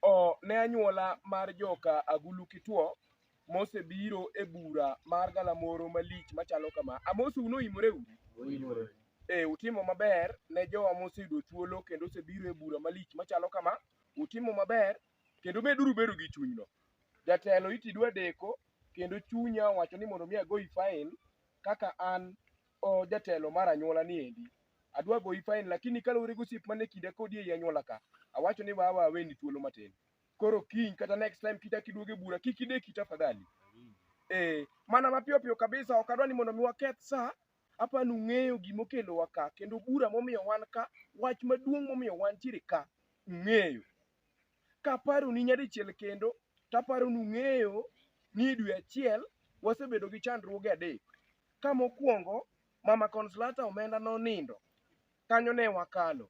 o, ne anyuola mar joka Agulu Kitwo mosebiro e bura mar galamoro malich machalo kama. Amosu unoimore uru. E, utimo maber ne jowa moseyudo thuolo kendo osebiro e bura malich machalo kama. Utimo maber kendo meduru bedo gi chunyno. Jatelo itidwa deko kendo chunya wacho ni mondo mi agoyi fain kaka an o jatelo mar anyuola ni endi adwa goyi fain lakini kaluwore gosiep mane kinda kodi ei anyuola ka awacho ni wawa aweni thuolo matin koro kiny kata next time kichak iduoge bura kik ideki tafadhali eh mana mapiyo piyo kabisa ok adwa ni mondo mi waketh sa apa nung'eyo gima okelowa ka kendo bura momiyo wan ka wach maduong' momiyo wantiere ka ung'eyo Kaparoni nyadichiel kendo, taparo nung'eyo ni dwe achiel wasebedo gi chandruoge adek. Ka mokwongo, mama Consolata omenda nonindo, kanyo ne wakalo.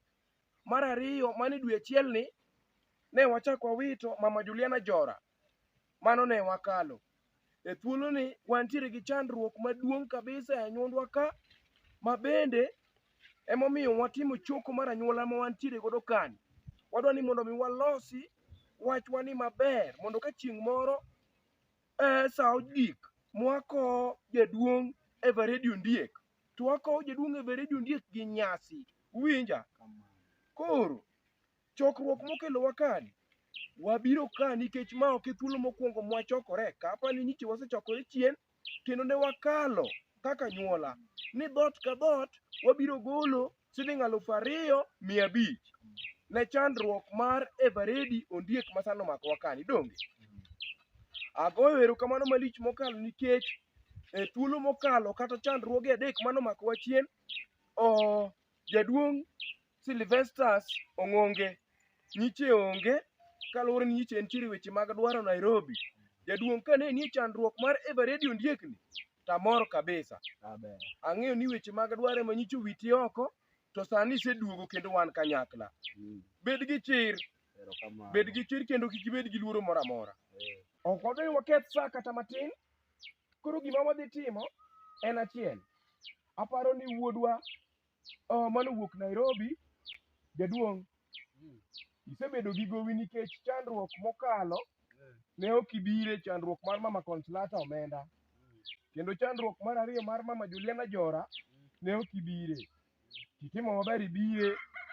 Mar ariyo, mane dwe achielni, ne wachak wawito mama Juliana Jora, Mano ne wakalo. E thuoloni wantiere gi chandruok maduong' kabisa e anyuondwa ka ma bende emomiyo watimo choko mar anyuola ma wantiere godo kani. Wadwa ni mondo mi walosi wachwani maber mondo ka chieng' moro eh, sa ogik mwakowo jaduong' Eveready Ondiek to wakowo jaduong' Eveready Ondiek gi nyasi. Uwinja? Koro Chokruok mokelowa kani. Wabiro ka nikech ma ok e thuolo mokwongo mwachokore. Kapa ni nyiche wasechokore chien kendo ne wakalo kaka anyuola ni dhoot ka dhoot wabiro golo siling alufu ariyo mia abich ne chandruok mar Eveready Ondiek ma sani omakowa kani donge. Agoyo erokamano malich mokalo nikech e thuolo mokalo kata chandruoge adek mane omakowa chien, oh, jaduong' Sylvesters Ong'onge. Nyiche onge kaluwore ni nyiche nitiere weche mag dwaro Nairobi. Jaduong' kane nie chandruok mar Eveready Ondiekni tamor kabisa. Amen. Ang'eyo ni weche mag dwaro ema nyicho witi oko to sani iseduogo kendo wan kanyakla. Mm. Bed gi chir, Erokamano. bed gi chir kendo kik ibed gi luoro moro amora. Eh. Ok wadwar ni waketh sa kata matin. Koro gima wadhi timo en achiel. Aparo ni wuodwa Oh, mano wuok Nairobi. Jaduong', isebedo gi gowi nikech chandruok mokalo ne ok ibire chandruok mar mama Consolata omenda kendo chandruok mar ariyo mar mama Juliana Jora ne ok ibire. Kitimo maber ibire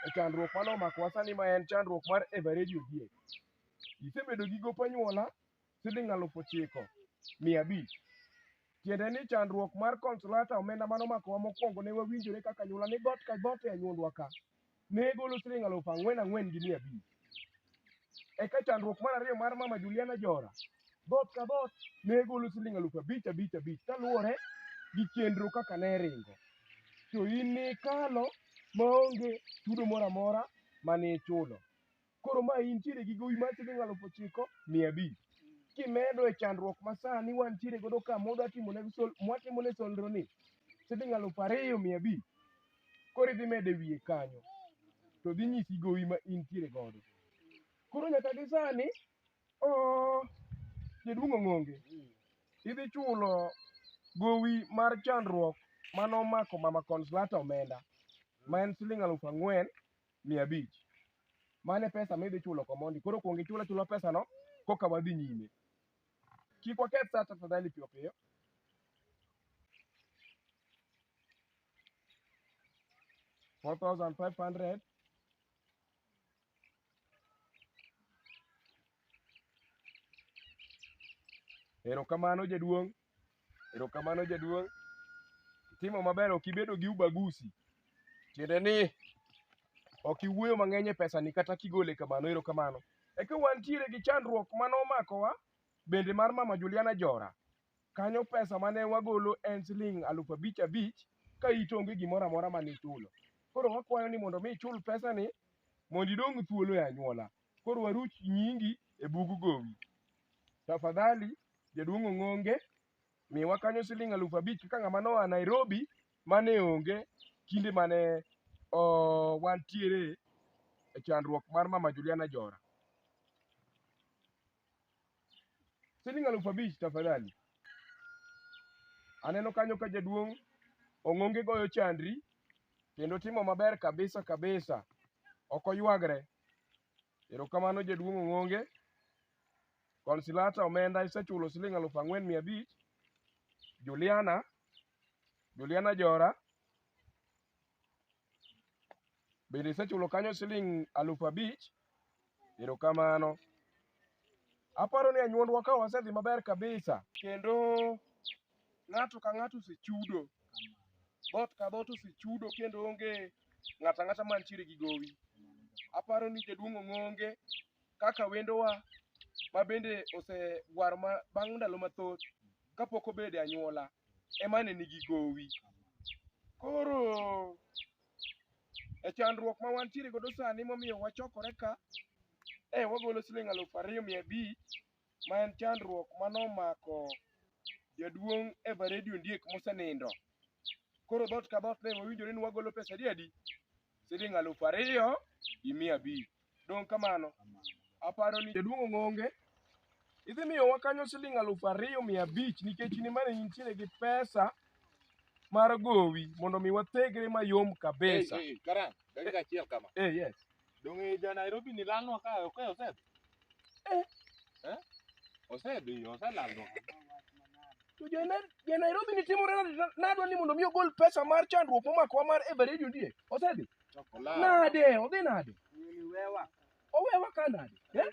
e chandruok mane omakowa sani ma en chandruok mar Eveready Ogiek. Isebedo gi gop anyuola siling' alufu ochiko mia abich. Tiende ni chandruok mar Consolata omenda mano makowa mokwongo ne wawinjore kaka anyuola ni got ka got e anyuondwa ka ne golo siling' alufu ang'wen ang'wen gi mia abich. Eka chandruok mar ariyo mar mama Juliana Jora got ka got ne golo siling' alufu abich abich abich kaluwore gi chenro kaka ne ringo. To in nikalo maonge chudo moro amora mane ichulo. Koro ma intiere gi gowi mar siling alufu ochiko mia abich kimedo e chandruok ma sani wantiere godo ka mwadwa timo ne sol mwatimo ne solro ni siling alufu ariyo mia abich koro idhi medo e wiye kanyo to dhi nyisi gowi ma intiere godo koro nyaka gi sani oo jaduong' ong'onge idhi chulo gowi mar chandruok mane omako mama conslata omenda ma en siling alufu ang'wen mia abich. Mane pesa midhi chulo komondi. Koro kuong ichul achula pesa no koka wadhi nyime. Kik waketh saa tafadhali piyo piyo. Four thousand five hundred. Erokamano jaduong'. Erokamano jaduong'. Itimo maber ok ibedo gi ubagusi. Tiende ni ok iwuoyo mang'eny e pesani kata kigole kamano erokamano. Eka wantiere gi chandruok mane omakowa bende mar mama Juliana Jora. Kanyo pesa mane wagolo en siling' aluf abich abich ka it onge gimoro amora mane ichulo. Koro wakwayo ni mondo mi ichul pesani mondo idong' thuolo e anyuola. Koro waruch nyingi e bug gowi. Tafadhali jaduong' Ong'onge miwa kanyo siling alufu abich kaka ng'ama noa Nairobi mane onge kinde mane o, wantiere e chandruok mar mama Juliana Jora. Siling alufu abich tafadhali. Aneno kanyo ka jaduong' Ong'onge goyo chandri kendo timo maber kabisa kabisa, ok oywagre. Erokamano jaduong' Ong'onge. Consilata omenda isechulo siling' aluf ang'wen mia abich. Juliana, Juliana Jora bende isechulo kanyo siling' aluf abich. Erokamano. Aparo ni anyuondwa ka wasedhi maber kabisa kendo ng'ato ka ng'ato osechudo, dhoot ka dhoot osechudo kendo onge ng'ato ang'ata mantiere gi gowi. Aparo ni jaduong' Ong'onge kaka wendowa ma bende osegwaro ma bang' ndalo mathoth kapok obedo e anyuola ema ne nigi gowi. Koro e chandruok ma wantiere godo sani momiyo wachokore ka, eh wagolo siling' aluf ariyo mia abich ma en chandruok mane omako jaduong' Eveready Ondiek mosenindo. Koro dhot ka dhot ne wawinjore ni wagolo pesa adi adi? Siling' alufu ariyo gi mia abich. Dong' kamano, aparo ni jaduong' Ong'onge idhi miyowa kanyo siling' alufu ariyo mia abich nikech in ema ne intiere gi pesa mar gowi mondo mi wathegre mayom kabisa. Ei, ei, Karan, dakika achiel kama. Eh, yes. Donge ja Nairobi ni lalnwa ka ok e Osep? Eh. Eh? Osep iyo oselalnwa. To ja Nai- ja Nairobi ni timore nade? Nadwa ni mondo mi ogol pesa mar chandruok momakowa mar Eveready Ondiek. Osedhi? Chokolat. Nade? Odhi nade? Owewa ka nade? Eh?